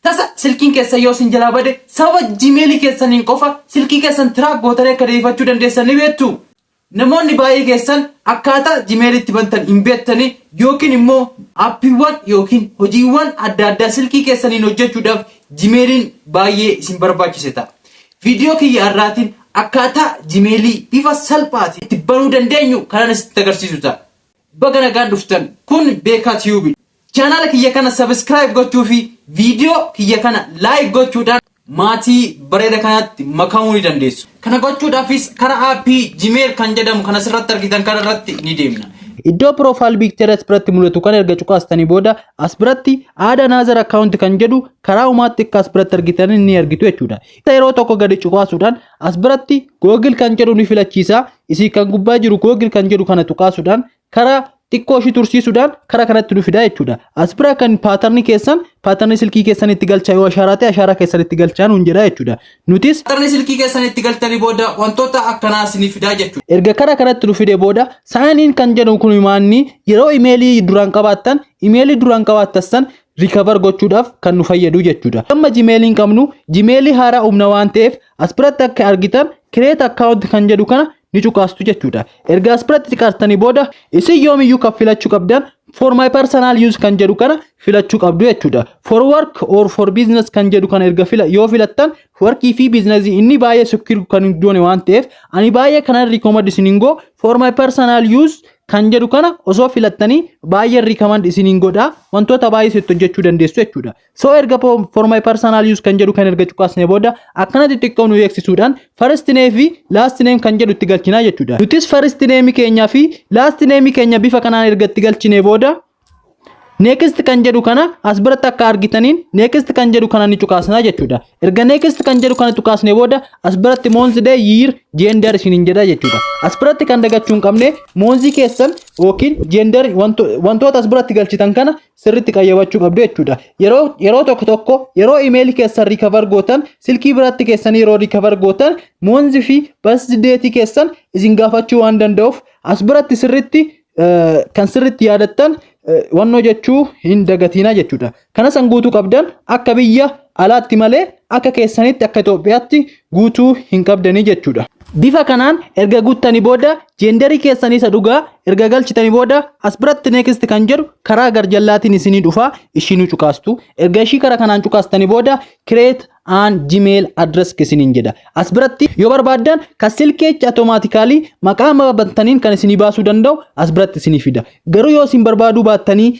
Tasa silkiin keessan yoo isin jalaa bade sababa Gmail keessaniin qofa silkii keessan track gootanii akka deebifachuu dandeessan ni beektuu? Namoonni baay'ee keessan akkaataa Gmail itti bantan hin beektanii yookiin immoo appiiwwan yookiin hojiiwwan adda addaa silkii keessaniin hojjechuudhaaf Gmailiin baay'ee isin barbaachise ta'a. Viidiyoo kiyya har'aatiin akkaataa Gmailii bifa salphaatiin itti banuu dandeenyu kanan isinitti agarsiisu ta'a. Baga nagaan dhuftan kun beekaa tube dha channel kiyya kana subscribe gochuu fi video kiyya kana like gochuudhaan maatii bareeda kanatti makamuu ni dandeessu kana gochuudhaafis kara aappii gmail kan jedhamu kan asirratti argitan kana irratti ni deemna Iddoo profile picture as biratti mul'atu kan erga cuqaastanii booda as biratti add another account kan jedhu karaa umaatti akka as biratti argitan ni argitu jechuudha. Yeroo tokko gadi cuqaasuudhaan as biratti Google kan jedhu ni filachiisa. Isin kan gubbaa jiru Google kan jedhu kana tuqaasuudhaan karaa xiqqoo ishii tursiisuudhaan karaa kanatti nu fidaa jechuudha. As bira kan paatarnii keessan paatarnii silkii keessan itti galchaa yoo ashaaraa ta'e ashaaraa keessan itti galchaa nuun jedha jechuudha. Nutis paatarnii silkii keessan itti galtanii booda wantoota akkanaa isinii fidaa jechuudha. Erga karaa kanatti nu fide booda saaniin kan jedhu kun maanni yeroo imeelii duraan qabaattan imeelii duraan qabaattan san rikavar gochuudhaaf kan nu fayyadu jechuudha. Amma jimeeliin qabnu jimeelii haaraa humna waan ta'eef As biratti akka argitan create account kan jedhu kana ni cuqaastu jechuudha. Erga as biratti cuqaastanii booda isin yoomiyyuu kan filachuu qabdan for my personal use kan jedhu kana filachuu qabdu jechuudha. For work or for business kan jedhu kana erga fila yoo filattan warqii fi biiznasii inni baay'ee secure kan hin goone waan ta'eef ani baay'ee kanan recommend isiniin goo for my personal use kan jedhu kana osoo filattanii baay'ee recommend isiniin godha wantoota baay'ee sitti hojjechuu dandeessu jechuudha. So erga for my personal use kan jedhu kan erga cuqaasne booda akkana xixiqqoo nu eegsisuudhaan first name fi last name kan jedhu itti galchinaa jechuudha. Nutis first name keenya fi last name keenya bifa kanaan erga itti galchine booda next kan jedhu kana as biratti akka argitaniin next kan jedhu kana ni cuqaasnaa jechuudha. Erga next kan jedhu kana cuqaasne booda as biratti month day year gender isiniin jedha jechuudha. As biratti kan dagachuu hin qabne month keessan yookiin gender wantoota as biratti galchitan kana sirritti qayyabachuu qabdu jechuudha. Yeroo yeroo tokko tokko yeroo imeelii keessan rikavar gootan silkii biratti keessanii yeroo rikavar gootan moonzi fi basdeetii keessan isin gaafachuu waan danda'uuf as biratti sirritti kan sirritti yaadattan wannoo jechuu hin dagatiina jechuudha. Kanas an guutuu qabdan akka biyya alaatti malee akka keessanitti akka Itoophiyaatti guutuu hin qabdanii jechuudha. Bifa kanaan erga guuttanii booda gender keessan isa dhugaa erga galchitanii booda as biratti next kan jedhu karaa garjallaatiin isinii dhufa ishii nu cuqaastu. Erga ishii kara kanaan cuqaastanii booda create an gmail address isiniin jedha. As biratti yoo barbaaddan kan silkii jecha automatically maqaa amma bantaniin kan isinii baasuu danda'u as biratti isinii fida. Garuu yoo isin barbaaduu baattanii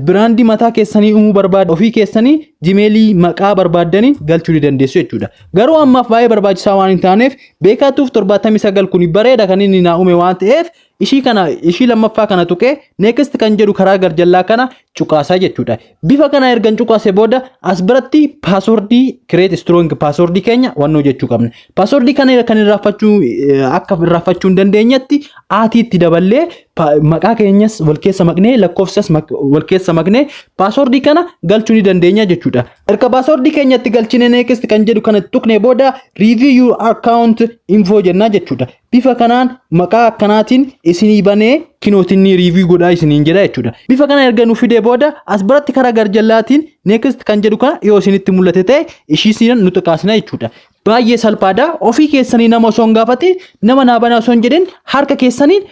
Biraandii mataa keessanii uumuu barbaaddan ofii keessanii jimeelii maqaa barbaaddanii galchuu ni dandeessu jechuudha. Garuu ammaaf baay'ee barbaachisaa waan hin taaneef beekaa tuuf 79 kun bareeda kan inni naa uume waan ta'eef ishii kana ishii lammaffaa kana tuqee next kan jedhu karaa garjallaa kana cuqaasaa jechuudha. Bifa kana ergan cuqaase booda as biratti paaswordii create strong paaswordii keenya wannoo jechuu qabna. Paaswordii kana kan irraafachuu akka irraafachuu hin dandeenyetti aatiitti daballee Pa- maqaa keenyas wal keessa maknee lakkoofsas mak- wal keessa maknee paaswordii kana galchuu ni dandeenya jechuudha. Erga paaswordii keenyatti galchine next kan jedhu kana tuqne booda review your account info jennaa jechuudha. Bifa kanaan maqaa akkanaatiin isinii banee kinootiin ni review godhaa isiniin jedha jechuudha. Bifa kana erga nu fidee booda as biratti karaa garjallaatiin next kan jedhu kana yoo isinitti mul'ate ta'e ishii isiin nu xiqqaasina jechuudha. Baay'ee salphaadha. Ofii keessanii nama osoo hin gaafate nama naa banaa osoo hin jedhin harka keessaniin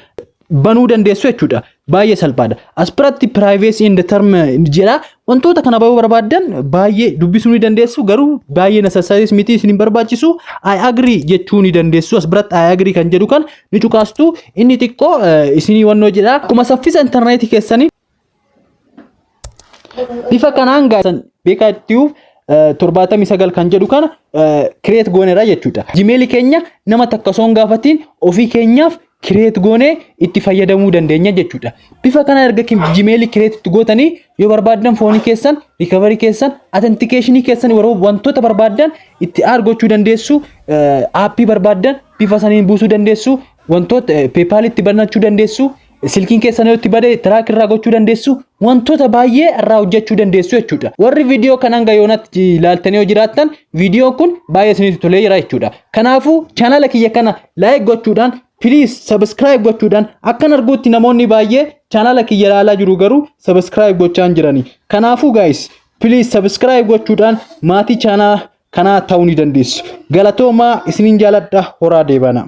banuu dandeessu jechuudha. Baay'ee salphaadha. As biratti privacy and term jedha. Wantoota kana bahuu barbaaddan baay'ee dubbisuu ni dandeessu garuu baay'ee necessaries miti isin hin barbaachisu. I agree jechuu ni dandeessu. As biratti I agree kan jedhu kan ni cuqaastu inni xiqqoo eh, isinii wannoo jedha. Akkuma saffisa intarneetii keessanii Bifa kanaan gaazexaan beekaa ittiyuuf torbaatamii sagal kan jedhu kana kireet gooneera jechuudha. Jimeelii keenya nama takka osoo hin gaafatiin ofii keenyaaf kireet goonee itti fayyadamuu dandeenya jechuudha. Bifa kana erga jimeelii kireet itti gootanii yoo barbaaddan foonii keessan, rikaverii keessan, atentikeeshinii keessan yeroo wantoota barbaaddan itti aad gochuu dandeessu, aappii barbaaddan bifa saniin buusuu dandeessu, wantoota peepaalitti banachuu dandeessu, Silkiin keessan yoo itti bade tiraak irraa gochuu dandeessu wantoota baay'ee irraa hojjechuu dandeessu jechuudha. Warri viidiyoo kan hanga yoonatti ilaaltanii yoo jiraattan viidiyoon kun baay'ee isinitti tolee jira jechuudha. Kanaafuu chaanala kiyya kana laayik gochuudhaan piliis sabiskiraayib gochuudhaan akkan arguutti namoonni baay'ee chaanala kiyya ilaalaa jiru garuu sabiskiraayib gochaa hin jirani. Kanaafuu gaayis piliis sabiskiraayib gochuudhaan maatii chaanala kanaa ta'uu ni dandeessu. Galatoomaa isiniin jaaladha horaa deebana.